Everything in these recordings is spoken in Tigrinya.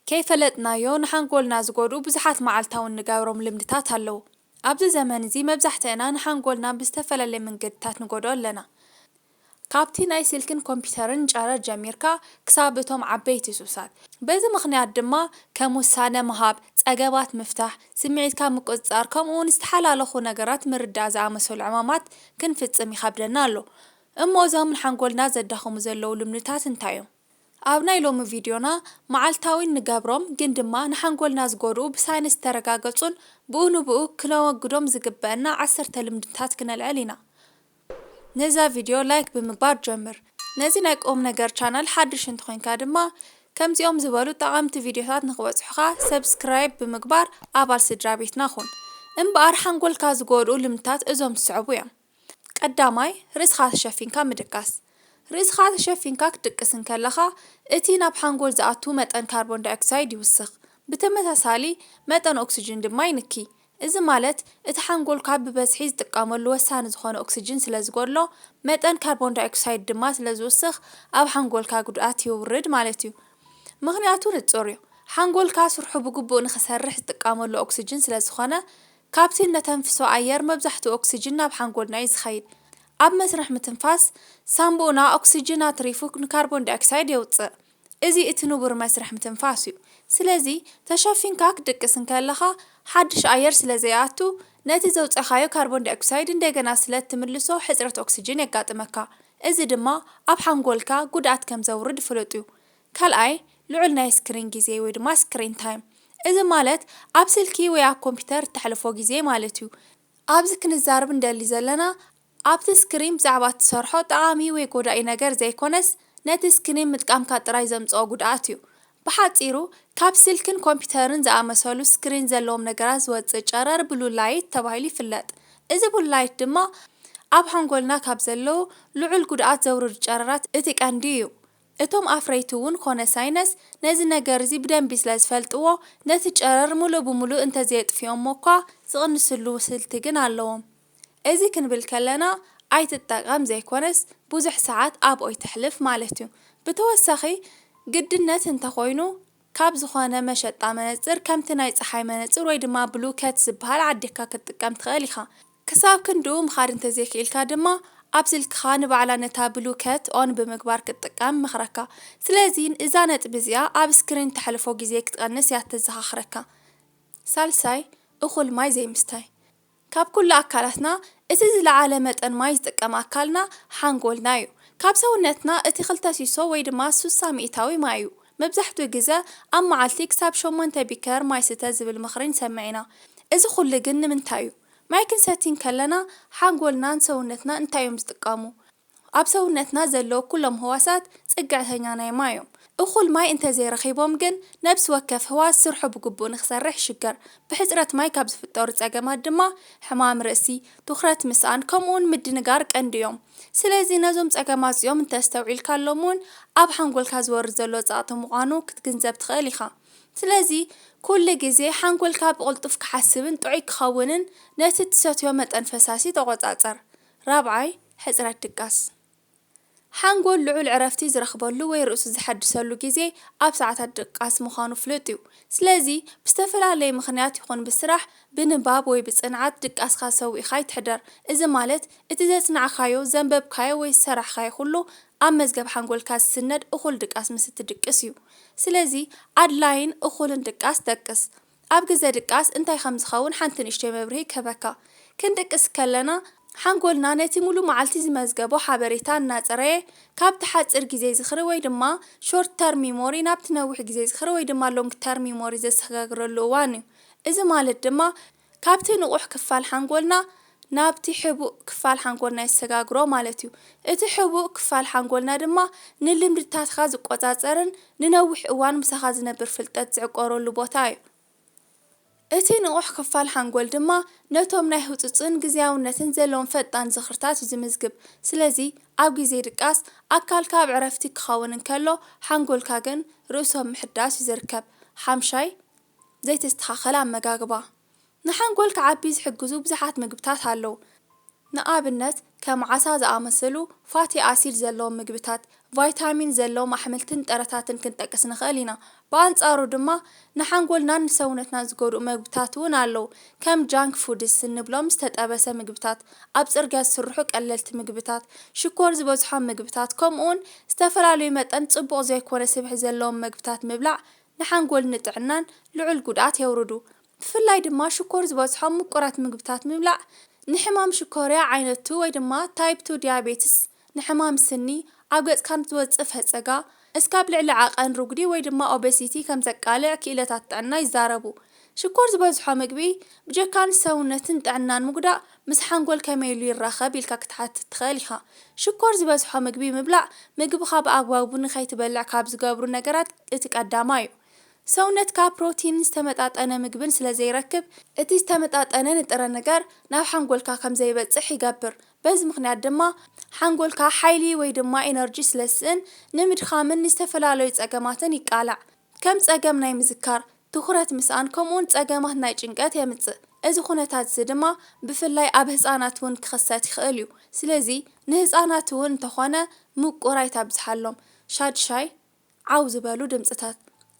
ከይፈለጥናዮ ንሓንጎልና ዝጎድኡ ብዙሓት መዓልታዊ እንገብሮም ልምድታት ኣለዉ። ኣብዚ ዘመን እዚ መብዛሕትእና ንሓንጎልና ብዝተፈላለየ መንገድታት ንጎድኦ ኣለና። ካብቲ ናይ ስልክን ኮምፒተርን ጨረር ጀሚርካ ክሳብ እቶም ዓበይቲ ሱሳት። በዚ ምኽንያት ድማ ከም ውሳነ ምሃብ፣ ጸገማት ምፍታሕ፣ ስምዒትካ ምቁጽጻር ከምኡ'ውን ዝተሓላለኹ ነገራት ምርዳእ ዝኣመሰሉ ዕማማት ክንፍጽም ይኸብደና ኣሎ። እሞ እዞም ንሓንጎልና ዘዳኽሙ ዘለዉ ልምድታት እንታይ እዮም? ኣብ ናይ ሎሚ ቪድዮና፣ መዓልታዊ እንገብሮም ግን ድማ ንሓንጎልና ዝጎድኡ ብሳይንስ ዝተረጋገጹን ብኡ ንብኡ ክነወግዶም ዝግበእና ዓሰርተ ልምድታት ክነልዕል ኢና። ነዛ ቪድዮ ላይክ ብምግባር ጀምር። ነዚ ናይ ቁምነገር ቻነል ሓድሽ እንተኾይንካ ድማ ከምዚኦም ዝበሉ ጠቐምቲ ቪድዮታት ንኽበጽሑኻ ሰብስክራይብ ብምግባር ኣባል ስድራቤትና ኩን። እምበኣር ሓንጎልካ ዝጎድኡ ልምድታት እዞም ዝስዕቡ እዮም። ቀዳማይ፣ ርእስኻ ተሸፊንካ ምድቃስ። ርእስኻ ተሸፊንካ ክትድቅስ እንከለኻ፣ እቲ ናብ ሓንጎል ዝኣቱ መጠን ካርቦን ዳይኦክሳይድ ይውስኽ፣ ብተመሳሳሊ መጠን ኦክስጅን ድማ ይንኪ። እዚ ማለት፣ እቲ ሓንጎልካ ብበዝሒ ዝጥቀመሉ ወሳኒ ዝኾነ ኦክስጅን ስለ ዝጎድሎ፣ መጠን ካርቦን ዳይኦክሳይድ ድማ ስለ ዝውስኽ ኣብ ሓንጎልካ ጉድኣት የውርድ ማለት'ዩ። ምኽንያቱ ንጹር'ዩ፣ ሓንጎልካ ስርሑ ብግቡእ ንኽሰርሕ ዝጥቀመሉ ኦክስጅን ስለ ዝኾነ፣ ካብቲ እነተንፍሶ ኣየር መብዛሕትኡ ኦክስጅን ናብ ሓንጎልና እዩ ዝኸይድ። ኣብ መስርሕ ምትንፋስ፣ ሳንቡእና ኦክስጅን ኣትሪፉ ንካርቦን ዳይኦክሳይድ የውጽእ። እዚ እቲ ንቡር መስርሕ ምትንፋስ እዩ። ስለዚ ተሸፊንካ ክትድቅስ እንከለኻ ሓድሽ ኣየር ስለ ዘይኣቱ፣ ነቲ ዘውጸኻዮ ካርቦን ዳይኦክሳይድ እንደገና ስለ እትምልሶ ሕጽረት ኦክስጅን የጋጥመካ። እዚ ድማ ኣብ ሓንጎልካ ጉድኣት ከም ዘውርድ ፍሉጥ እዩ። ካልኣይ፣ ልዑል ናይ ስክሪን ግዜ ወይ ድማ Screen Time፣ እዚ ማለት ኣብ ስልኪ ወይ ኣብ ኮምፒተር እተሕልፎ ግዜ ማለት እዩ። ኣብዚ ክንዛረብ እንደሊ ዘለና ኣብቲ ስክሪን ብዛዕባ እትሰርሖ ጠቓሚ ወይ ጎዳኢ ነገር ዘይኮነስ ነቲ ስክሪን ምጥቃምካ ጥራይ ዘምጽኦ ጉድኣት እዩ። ብሓጺሩ ካብ ስልክን ኮምፒተርን ዝኣመሰሉ ስክሪን ዘለዎም ነገራት ዝወጽእ ጨረር Blue Light ተባሂሉ ይፍለጥ። እዚ Blue Light ድማ ኣብ ሓንጎልና ካብ ዘለዉ ልዑል ጉድኣት ዘውርዱ ጨረራት እቲ ቀንዲ እዩ። እቶም ኣፍረይቲ እውን ኮነ ሳይነስ ነዚ ነገር እዚ ብደንቢ ስለ ዝፈልጥዎ ነቲ ጨረር ምሉእ ብምሉእ እንተዘየጥፊኦሞ እኳ ዝቕንስሉ ስልቲ ግን ኣለዎም። እዚ ክንብል ከለና ኣይትጠቐም ዘይኮነስ ብዙሕ ሰዓት ኣብኦይ ተሕልፍ ማለት እዩ። ብተወሳኺ ግድነት እንተኾይኑ ካብ ዝኾነ መሸጣ መነጽር ከምቲ ናይ ጸሓይ መነጽር ወይ ድማ ብሉ ከት ዝበሃል ዓዲግካ ክትጥቀም ትኸእል ኢኻ። ክሳብ ክንድኡ ምኻድ እንተዘይክኢልካ ድማ ኣብ ስልክኻ ንባዕላ ነታ ብሉ ከት ኦን ብምግባር ክትጥቀም እመኽረካ። ስለዚ እዛ ነጥቢ እዚኣ ኣብ ስክሪን እተሕልፎ ግዜ ክትቐንስ እያ እተዘኻኽረካ። ሳልሳይ፣ እኹል ማይ ዘይምስታይ። ካብ ኩሉ ኣካላትና እቲ ዝለዓለ መጠን ማይ ዝጥቀም ኣካልና ሓንጎልና እዩ። ካብ ሰውነትና እቲ ክልተ ሲሶ ወይ ድማ ሱሳ ሚኢታዊ ማይ እዩ። መብዛሕትኡ ግዘ ኣብ መዓልቲ ክሳብ ሸሞንተ ቢከር ማይ ስተ ዝብል ምኽሪ ንሰምዕ ኢና። እዚ ኩሉ ግን ንምንታይ እዩ? ማይ ክንሰቲ እንከለና ሓንጎልናን ሰውነትና እንታይ እዮም ዝጥቀሙ? ኣብ ሰውነትና ዘለዉ ኩሎም ህዋሳት ጽግዕተኛ ናይ ማይ እዮም። እኹል ማይ እንተዘይረኺቦም ግን ነብሲ ወከፍ ህዋስ ስርሑ ብግቡእ ንክሰርሕ ይሽገር። ብሕጽረት ማይ ካብ ዝፍጠሩ ጸገማት ድማ ሕማም ርእሲ፣ ትኹረት ምስኣን ከምኡ'ውን ምድንጋር ቀንዲ እዮም። ስለዚ ነዞም ጸገማት እዚኦም እንተኣስተውዒልካሎም እውን ኣብ ሓንጎልካ ዝወርድ ዘሎ ጸቕጢ ምዃኑ ክትግንዘብ ትኽእል ኢኻ። ስለዚ ኩሉ ግዜ ሓንጎልካ ብቕልጡፍ ክሓስብን ጥዑይ ክኸውንን ነቲ እትሰትዮ መጠን ፈሳሲ ተቖጻጸር። ራብዓይ፣ ሕጽረት ድቃስ፣ ሓንጎል ልዑል ዕረፍቲ ዝረኽበሉ ወይ ርእሱ ዘሐድሰሉ ግዜ ኣብ ሰዓታት ድቃስ ምዃኑ ፍሉጥ እዩ። ስለዚ፣ ብዝተፈላለየ ምኽንያት ይኹን ብስራሕ፣ ብንባብ ወይ ብጽንዓት ድቃስካ ሰዊእካ ኣይትሕደር። እዚ ማለት፣ እቲ ዘጽናዕካዮ፣ ዘንበብካዮ ወይ ዝሰራሕካዮ ኩሉ ኣብ መዝገብ ሓንጎልካ ዝስነድ እኹል ድቃስ ምስ እትድቅስ እዩ። ስለዚ፣ ኣድላይን እኹልን ድቃስ ደቅስ። ኣብ ግዘ ድቃስ እንታይ ከም ዝኸውን ሓንቲ ንእሽቶይ መብርሂ ክህበካ። ክንድቅስ ከለና ሓንጎልና ነቲ ሙሉእ መዓልቲ ዝመዝገቦ ሓበሬታ እናፅረየ ካብቲ ሓፂር ግዜ ዝኽሪ ወይ ድማ Short Term Memory ናብቲ ነዊሕ ግዜ ዝኽሪ ወይ ድማ Long Term Memory ዘሰጋግረሉ እዋን እዩ። እዚ ማለት ድማ ካብቲ ንቑሕ ክፋል ሓንጎልና ናብቲ ሕቡእ ክፋል ሓንጎልና የሰጋግሮ ማለት እዩ። እቲ ሕቡእ ክፋል ሓንጎልና ድማ ንልምድታትካ ዝቆጻጸርን ንነዊሕ እዋን ምሳኻ ዝነብር ፍልጠት ዝዕቆረሉ ቦታ እዩ። እቲ ንቑሕ ክፋል ሓንጎል ድማ ነቶም ናይ ህጹጽን ግዝያውነትን ዘለዎም ፈጣን ዝኽርታት እዩ ዝምዝግብ። ስለዚ ኣብ ግዜ ድቃስ ኣካልካ ኣብ ዕረፍቲ ክኸውን እንከሎ ሓንጎልካ ግን ርእሶም ምሕዳስ እዩ ዝርከብ። ሓምሻይ፣ ዘይተስተኻኸለ ኣመጋግባ። ንሓንጎል ክዓቢ ዝሕግዙ ብዙሓት ምግብታት ኣለዉ። ንኣብነት ከም ዓሳ ዝኣመሰሉ ፋቲ ኣሲድ ዘለዎም ምግብታት፣ ቫይታሚን ዘለዎም ኣሕምልትን ጥረታትን ክንጠቅስ ንኽእል ኢና። ብኣንጻሩ ድማ ንሓንጎልናን ንሰውነትናን ዝጎድኡ መግብታት እውን ኣለዉ። ከም ጃንክ ፉድስ እንብሎም ዝተጠበሰ ምግብታት፣ ኣብ ጽርግያ ዝስርሑ ቀለልቲ ምግብታት፣ ሽኮር ዝበዝሖም ምግብታት ከምኡውን ዝተፈላለዩ መጠን ጽቡቕ ዘይኮነ ስብሒ ዘለዎም መግብታት ምብላዕ ንሓንጎል ንጥዕናን ልዑል ጉድኣት የውርዱ። ብፍላይ ድማ ሽኮር ዝበዝሖም ምቁራት ምግብታት ምብላዕ ንሕማም ሽኮርያ ዓይነት ቱ ወይ ድማ ታይፕ ቱ ዲያቤትስ፣ ንሕማም ስኒ፣ ኣብ ገጽካ ንዝወጽእ ፈጸጋ፣ እስካብ ልዕሊ ዓቐን ርጉዲ ወይ ድማ ኦበሲቲ ከምዘቃልዕ ክኢለታት ጥዕና ይዛረቡ። ሽኮር ዝበዝሖ ምግቢ ብጀካ ንሰውነትን ጥዕናን ምጉዳእ ምስ ሓንጎል ከመይ ኢሉ ይራኸብ ኢልካ ክትሓትት ትኽእል ኢኻ። ሽኮር ዝበዝሖ ምግቢ ምብላዕ ምግብኻ ብኣግባቡ ንኸይትበልዕ ካብ ዝገብሩ ነገራት እቲ ቀዳማይ'ዩ። ሰውነትካ ፕሮቲንን ዝተመጣጠነ ምግብን ስለዘይረክብ፣ እቲ ዝተመጣጠነ ንጥረ ነገር ናብ ሓንጎልካ ከምዘይበጽሕ ይገብር በዚ ምኽንያት ድማ ሓንጎልካ ሓይሊ ወይ ድማ ኢነርጂ ስለዝስእን ንምድኻምን ንዝተፈላለዩ ጸገማትን ይቃላዕ። ከም ጸገም ናይ ምዝካር፣ ትኹረት ምስኣን ከምኡውን ጸገማት ናይ ጭንቀት የምጽእ። እዚ ዅነታት እዚ ድማ ብፍላይ ኣብ ህጻናት እውን ክኽሰት ይኽእል እዩ። ስለዚ ንህጻናት እውን እንተ ዀነ ምቍር ኣይተብዝሓሎም። ሻድሻይ፣ ዓው ዝበሉ ድምጽታት።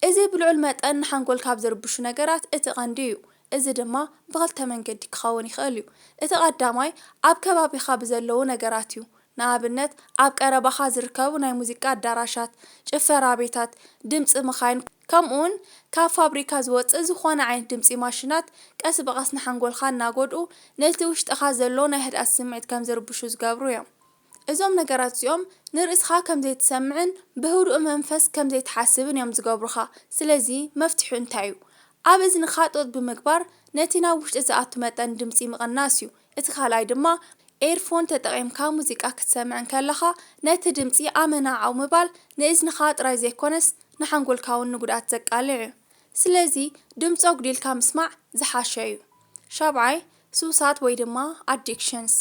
እዚ ብልዑል መጠን ንሓንጎል ካብ ዝርብሹ ነገራት እቲ ቐንዲ እዩ። እዚ ድማ ብኽልተ መንገዲ ክኸውን ይኽእል እዩ። እቲ ቐዳማይ ኣብ ከባቢኻ ብዘለዉ ነገራት እዩ። ንኣብነት ኣብ ቀረባኻ ዝርከቡ ናይ ሙዚቃ ኣዳራሻት፣ ጭፈራ ቤታት፣ ድምጺ መኻይን ከምኡውን ካብ ፋብሪካ ዝወጽእ ዝኾነ ዓይነት ድምጺ ማሽናት ቀስ ብቐስ ንሓንጎልካ እናጎድኡ ነቲ ውሽጥኻ ዘሎ ናይ ህድኣት ስምዒት ከም ዝርብሹ ዝገብሩ እዮም። እዞም ነገራት እዚኦም ንርእስኻ ከም ዘይትሰምዕን ብህዱእ መንፈስ ከም ዘይትሓስብን እዮም ዝገብሩኻ። ስለዚ መፍትሒኡ እንታይ እዩ? ኣብ እዝንኻ ጡጥ ብምግባር ነቲ ናብ ውሽጢ ዝኣቱ መጠን ድምጺ ምቕናስ እዩ። እቲ ካልኣይ ድማ ኤርፎን ተጠቒምካ ሙዚቃ ክትሰምዕ እንከለኻ ነቲ ድምጺ ኣመና ዓው ምባል ንእዝንኻ ጥራይ ዘይኮነስ ንሓንጎልካ'ውን ንጉድኣት ዘቃልዕ እዩ። ስለዚ ድምጺ ኣጉዲልካ ምስማዕ ዝሓሸ እዩ። ሻብዓይ፣ ሱሳት ወይ ድማ Addictions፣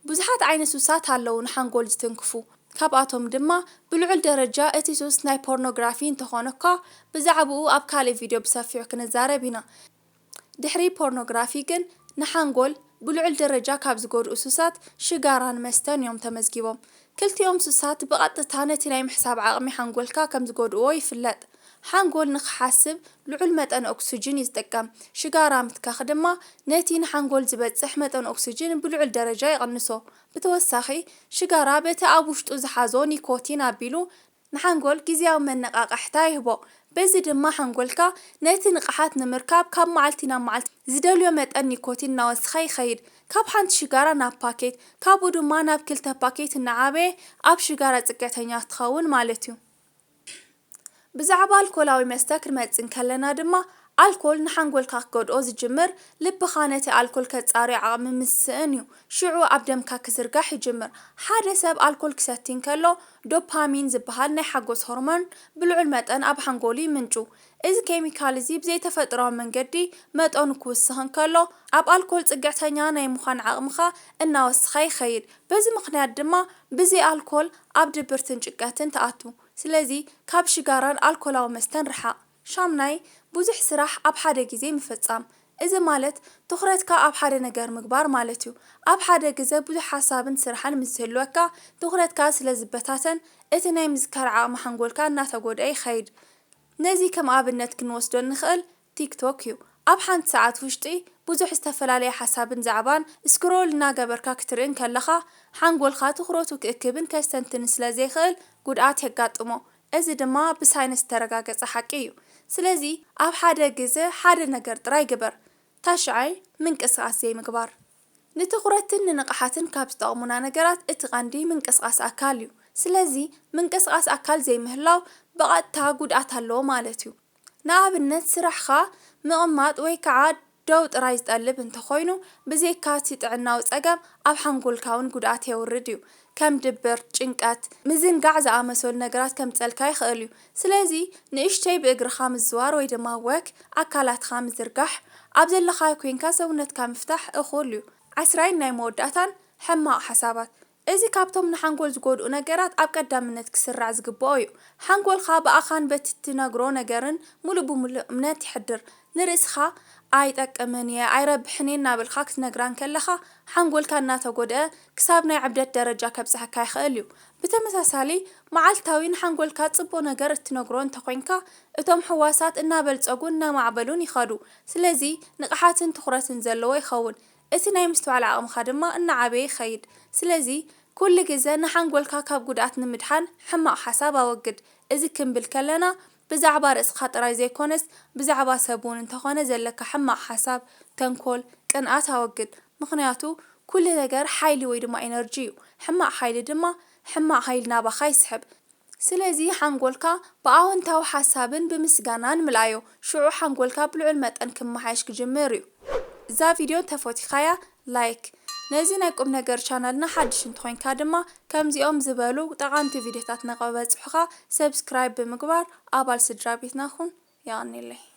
ብዙሓት ዓይነት ሱሳት ኣለዉ ንሓንጎል ዝትንክፉ። ካብኣቶም ድማ ብልዑል ደረጃ እቲ ሱስ ናይ ፖርኖግራፊ እንተኾነ'ኳ ብዛዕብኡ ኣብ ካልእ ቪድዮ ብሰፊሑ ክንዛረብ ኢና። ድሕሪ ፖርኖግራፊ ግን ንሓንጎል ብልዑል ደረጃ ካብ ዝጎድኡ ሱሳት ሽጋራን መስተን እዮም ተመዝጊቦም። ክልቲኦም ሱሳት ብቐጥታ ነቲ ናይ ምሕሳብ ዓቕሚ ሓንጎልካ ከም ዝጎድእዎ ይፍለጥ። ሓንጎል ንኽሓስብ ልዑል መጠን ኦክስጅን እዩ ዝጥቀም፣ ሽጋራ ምትካኽ ድማ ነቲ ንሓንጎል ዝበጽሕ መጠን ኦክስጅን ብልዑል ደረጃ ይቕንሶ። ብተወሳኺ ሽጋራ በቲ ኣብ ውሽጡ ዝሓዞ ኒኮቲን ኣቢሉ ንሓንጎል ግዝያዊ መነቓቓሕታ ይህቦ፣ በዚ ድማ ሓንጎልካ ነቲ ንቕሓት ንምርካብ ካብ መዓልቲ ናብ መዓልቲ ዝደልዮ መጠን ኒኮቲን እናወሰኸ ይኸይድ። ካብ ሓንቲ ሽጋራ ናብ ፓኬት፣ ካብኡ ድማ ናብ ክልተ ፓኬት እናዓበየ ኣብ ሽጋራ ጽግዕተኛ ትኸውን ማለት'ዩ። ብዛዕባ ኣልኮላዊ መስተ ክንመጽእ እንከለና ድማ ኣልኮል ንሓንጎልካ ክጎድኦ ዝጅምር ልብኻ ነቲ ኣልኮል ከጻርዮ ዓቕሚ ምስ ዝስእን እዩ። ሽዑ ኣብ ደምካ ክዝርጋሕ ይጅምር። ሓደ ሰብ ኣልኮል ክሰቲ እንከሎ ዶፓሚን ዝበሃል ናይ ሓጎስ ሆርሞን ብልዑል መጠን ኣብ ሓንጎሉ ይምንጩ። እዚ ኬሚካል እዚ ብዘይተፈጥሮኣዊ መንገዲ መጠኑ ክውስኽ እንከሎ ኣብ ኣልኮል ጽግዕተኛ ናይ ምዃን ዓቕምኻ እናወሰኸ ይኸይድ። በዚ ምኽንያት ድማ ብዘይ ኣልኮል ኣብ ድብርትን ጭንቀትን ትኣቱ። ስለዚ ካብ ሽጋራን ኣልኮላዊ መስተን ርሓቕ። ሻምናይ፣ ብዙሕ ስራሕ ኣብ ሓደ ግዜ ምፍጻም። እዚ ማለት ትኹረትካ ኣብ ሓደ ነገር ምግባር ማለት እዩ። ኣብ ሓደ ግዘ ብዙሕ ሓሳብን ስራሕን ምስ ዝህልወካ ትኹረትካ ስለ ዝበታተን እቲ ናይ ምዝካር ዓቕሚ ሓንጎልካ እናተጎድኣ ይኸይድ። ነዚ ከም ኣብነት ክንወስዶ እንኽእል ቲክቶክ እዩ። ኣብ ሓንቲ ሰዓት ውሽጢ ብዙሕ ዝተፈላለየ ሓሳብን ዛዕባን ስክሮል እናገበርካ ክትርኢ እንከለኻ ሓንጎልካ ትኹረቱ ክእክብን ከስተንትንን ስለ ዘይኽእል ጉድኣት የጋጥሞ። እዚ ድማ ብሳይንስ ዝተረጋገጸ ሓቂ እዩ። ስለዚ ኣብ ሓደ ግዘ ሓደ ነገር ጥራይ ግበር፣ ታሽዐይ ምንቅስቃስ ዘይምግባር። ንትኹረትን ንንቕሓትን ካብ ዝጠቕሙና ነገራት እቲ ቀንዲ ምንቅስቃስ ኣካል እዩ። ስለዚ ምንቅስቃስ ኣካል ዘይምህላው ብቐጥታ ጉድኣት ኣለዎ ማለት እዩ። ንኣብነት ስራሕኻ ምቕማጥ ወይ ከዓ ደው ጥራይ ዝጠልብ እንተኾይኑ፣ ብዜካ እቲ ጥዕናዊ ጸገም ኣብ ሓንጎልካውን ጉድኣት የውርድ እዩ። ከም ድብርት፣ ጭንቀት፣ ምዝንጋዕ ዝኣመሰሉ ነገራት ከምጸልካ ይኸእል እዩ። ስለዚ ንእሽተይ ብእግርኻ ምዝዋር ወይ ድማ ወክ፣ ኣካላትካ ምዝርጋሕ፣ ኣብ ዘለኻዮ ኮይንካ ሰውነትካ ምፍታሕ እኹል እዩ። ዓስራይን ናይ መወዳእታን ሕማቕ ሓሳባት፣ እዚ ካብቶም ንሓንጎል ዝጎድኡ ነገራት ኣብ ቀዳምነት ክስራዕ ዝግበኦ እዩ። ሓንጎልካ ብኣኻን በቲ እትነግሮ ነገርን ምሉእ ብምሉእ እምነት የሕድር። ንርእስኻ ኣይጠቅምን እየ፣ ኣይረብሕን እየ እናበልካ ክትነግራ እንከለኻ፣ ሓንጎልካ እናተጎድኣ ክሳብ ናይ ዕብደት ደረጃ ከብጽሐካ ይኽእል እዩ። ብተመሳሳሊ፣ መዓልታዊ ንሓንጎልካ ጽቡቕ ነገር እትነግሮ እንተኾይንካ፣ እቶም ሕዋሳት እናበልጸጉን እናማዕበሉን ይኸዱ። ስለዚ ንቕሓትን ትኹረትን ዘለዎ ይኸውን። እቲ ናይ ምስትውዓል ዓቕምኻ ድማ እናዓበየ ይኸይድ። ስለዚ ኩሉ ግዘ ንሓንጎልካ ካብ ጉድኣት ንምድሓን ሕማቕ ሓሳብ ኣወግድ። እዚ ክንብል ከለና ብዛዕባ ርእስኻ ጥራይ ዘይኮነስ ብዛዕባ ሰብ እውን እንተኾነ ዘለካ ሕማቕ ሓሳብ፣ ተንኮል፣ ቅንኣት ኣወግድ። ምኽንያቱ ኩሉ ነገር ሓይሊ ወይ ድማ ኢነርጂ እዩ። ሕማቕ ሓይሊ ድማ ሕማቕ ሃይሊ ናባኻ ይስሕብ። ስለዚ ሓንጎልካ ብኣወንታዊ ሓሳብን ብምስጋናን ምልኣዮ። ሽዑ ሓንጎልካ ብልዑል መጠን ክመሓየሽ ክጅምር እዩ። እዛ ቪድዮ እንተፈቲኻያ ላይክ። ነዚ ናይ ቁምነገር ቻናልና ሓድሽ እንተኾይንካ ድማ ከምዚኦም ዝበሉ ጠቓምቲ ቪድዮታት ንክበጽሑኻ ሰብስክራይብ ብምግባር ኣባል ስድራቤትና ኩን። የቐኔለይ።